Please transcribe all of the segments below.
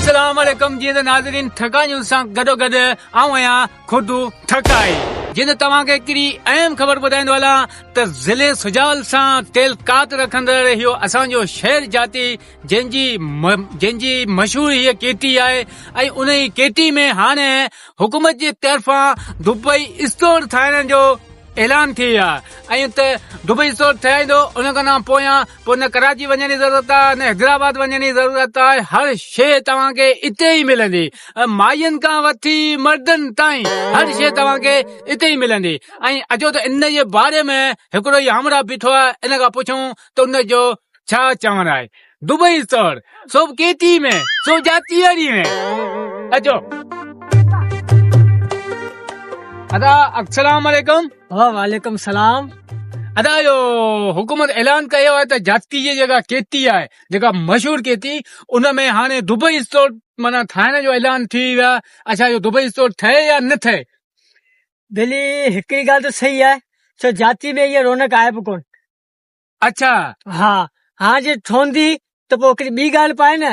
السلام عليڪم جي ته ناظرين ٺڪا نيوز سان گڏو گڏ آئون آهيان خود ٺڪائي جي ته توهان کي هڪڙي اهم خبر ٻڌائيندو هلان ته ضلع سجاول سان تعلقات رکندڙ اهو اسان جو شهر جاتي جنهن جي جنهن جي مشهور هي ڪيٽي آهي ۽ ان ئي ڪيٽي ۾ هاڻي حڪومت جي طرفان دبئي اسٽور ٺاهڻ جو اعلان ٿي ويو آهي ۽ ته دبئي اسٽور ٺهرائيندو ان کان پويان پوء نه ڪراچي وڃڻ جي ضرورت آ نه حيدرآباد وڃڻ جي ضرورت آ هر شي توهان کي اتي ئي ملندي ماين کان وٺي مردن تائين هر شي توهان کي اتي ئي ملندي ۽ اچو ته ان جي باري ۾ هڪڙو ئي همراهه بيٺو آ ان کان پڇون ته ان جو ڇا چوڻ آهي دبئي سور سو ڪيتي ۾ سو جاتي اڙي ۾ اچو ادا السلام عليڪم وعليڪم السلام ادا جو حڪومت اعلان ڪيو آهي ته جاتي جي جيڪا ڪيتي آهي جيڪا مشهور ڪيتي ان ۾ هاڻي دبئي اسٽور مانا ٺاهڻ جو اعلان ٿي ويو آهي اڇا جو دبئي اسٽور ٺهي يا نه ٺهي دلي هڪڙي ڳالهه ته صحيح آهي سو جاتي ۾ هي رونق آهي به ڪون اڇا ها هاڻ جي ٺهندي ته پوء هڪڙي ٻي ڳالهه پائي نه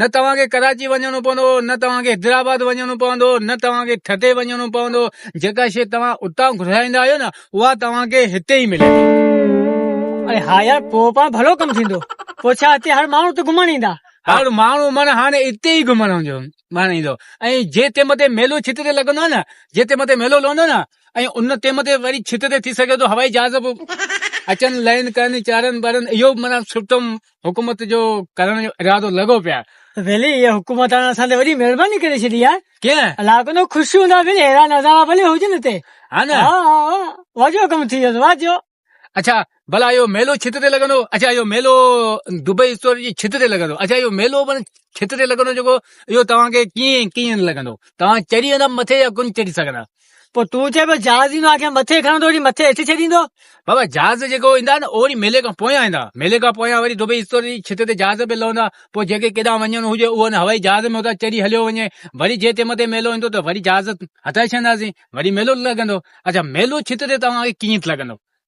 نه توهان کي ڪراچي وڃڻو پوندو نه توهان کي حيدرآباد وڃڻو پوندو نه توهان کي ٺٽي وڃڻو پوندو جيڪا شيء توهان اتان گهرائيندا آهيو نه اها توهان کي هتي ئي ملندي اري ها يار پوء پاڻ ڀلو ڪم ٿيندو پوء ڇا هتي هر ماڻهو ته گهمڻ ايندا هر ماڻهو معنيٰ هاڻي اتي ئي گهمڻ ايندو معنيٰ ايندو ۽ جي تي مٿي ميلو ڇت تي لڳندو آهي نه جي تي مٿي ميلو لهندو نه ۽ ان تي مٿي وري ڇت تي ٿي سگهي ٿو هوائي جهاز به اچن لهن ڪن چارن ٻارن اهو معنيٰ سٺو حڪومت جو ڪرڻ جو ارادو لڳو پيا. ڀلي هيء حڪومت هاڻ اسان تي وڏي مهرباني ڪري ڇڏي آهي. ڪيئن؟ الله ڪندو خوش هوندا ڀلي ههڙا نظارا ڀلي هجن هتي. ها نه؟ ها ها ها واجو ڪم ٿي ويندو واجو. اڇا ڀلا اهو ميلو ڇت تي لڳندو؟ اڇا اهو ميلو دبئي اسٽور جي ڇت تي لڳندو. اڇا اهو ميلو پڻ ڇت تي لڳندو جيڪو اهو توهان کي ڪيئن ڪيئن لڳندو؟ توهان چڙهي ويندا مٿي يا ڪونه چڙهي سگهندا؟ پوء تون چئين پيو جهاز ايندو آکيان مٿي کڻندو وڃي مٿي هيٺ ڇڏيندو بابا جهاز جيڪو ايندا نه اهڙي ميلي کان پويان ايندا ميلي کان پويان وري دبئي اسٽور جي ڇت تي جهاز به لهندا پوء جيڪي ڪيڏانهن وڃڻو هجي اهو ان هوائي جهاز ۾ اتان چڙهي هليو وڃي وري جي تنهن مٿي ميلو ايندو ته وري جهاز هٽائي ڇڏنداسين وري ميلو لڳندو اچا ميلو ڇت تي توهان کي ڪيئن لڳندو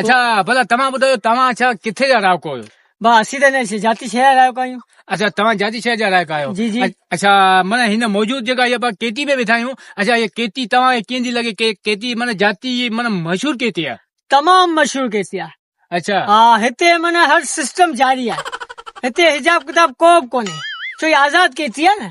اڇا ڀلا توهان ٻڌايو توهان اڇا ڪٿي جا رهاڪو آهيو؟ با اسين ته هن جاتي شهر جا رهاڪو آهيون. اڇا توهان جاتي شهر جا رهاڪا آهيو. جي جي. اڇا معنيٰ هن موجود جيڪا هي با ڪيتي ۾ ويٺا آهيون اڇا هي ڪيتي توهان کي ڪيئن ٿي لڳي ڪي ڪيتي معنيٰ جاتي هي معنيٰ مشهور ڪيتي آهي. تمام مشهور ڪيتي آهي. اڇا. ها هتي معنيٰ هر سسٽم جاري آهي. هتي حجاب ڪتاب ڪو به ڪونهي ڇو هي آزاد ڪيتي آهي نه.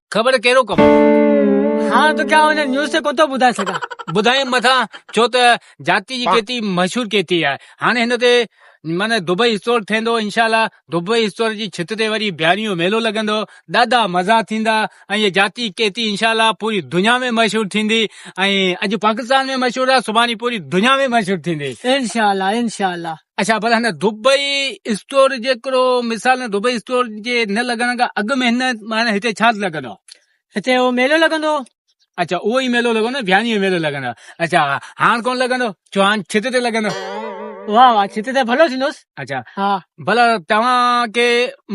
خبر ڪهڙو ڪم آهي. هاڻ تو کي آئون هن نيوز تي ڪوتو ٻڌائي سگهان. ٻڌائين مٿان ڇو ته جاتي جي ڪيتي مشهور ڪيتي آهي هاڻي هن تي معنيٰ دبئي اسٽور ٿيندو انشاء الله دبئي اسٽور جي ڇت تي وري بيارين جو ميلو لڳندو ڏاڍا مزا ٿيندا ۽ هي جاتي ڪيتي انشاء الله پوري دنيا ۾ مشهور ٿيندي ۽ اڄ پاڪستان ۾ مشهور آهي سڀاڻي پوري دنيا ۾ مشهور ٿيندي انشاء الله انشاء الله. اچھا پر هن دبئي اسٽور جي هڪڙو مثال دبئي اسٽور جي نه لڳڻ کان اڳ ۾ هن معنی هتي ڇا لڳندو هتي اهو ميلو لڳندو اچھا اهو ئي ميلو لڳندو ڀياني جو ميلو لڳندو اچھا هاڻ ڪون لڳندو جو هاڻ ڇت تي لڳندو واهه واهه ڇت تي ڀلو ٿيندوس اچھا ها ڀلا توهان کي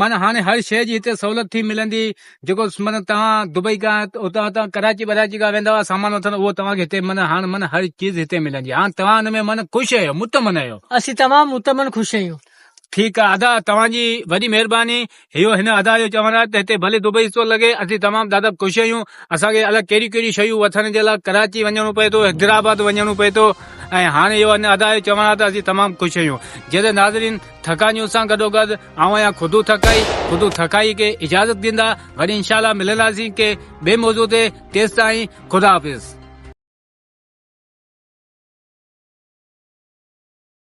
معنی هاڻي هر شيء جي هتي سهولت ٿي ملندي جيڪو مطلب توهان دبئي کان اتان اتان ڪراچي وراچي کان ويندا هئا سامان وٺڻ اهو توهان کي هتي من هاڻ من هر چيز هتي ملندي هاڻ توهان ان ۾ من خوش آهيو مطمئن آهيو اسين تمام مطمئن خوش آهيون ٺيڪ آهي ادا توهان جي وڏي مهرباني اهو هن ادا جو چوڻ آهي ته هتي ڀلي دبئي ٿو لڳي اسين تمام دادا خوش آهيون اسان کي الڳ ڪهڙي ڪهڙي شيون وٺڻ جي لاء ڪراچي وڃڻو پئي ٿو حيدرآباد وڃڻو پئي ٿو ۽ هاڻي اهو هن ادا جو چوڻ آهي ته اسين تمام خوش آهيون جيئن ناظرين ٿڪان جون سان گڏوگڏ آئون آهيان خودو ٿڪائي خودو ٿڪائي کي اجازت ڏيندا وري انشاء الله ملنداسين ڪي ٻي موضوع تي تيستائين خدا حافظ.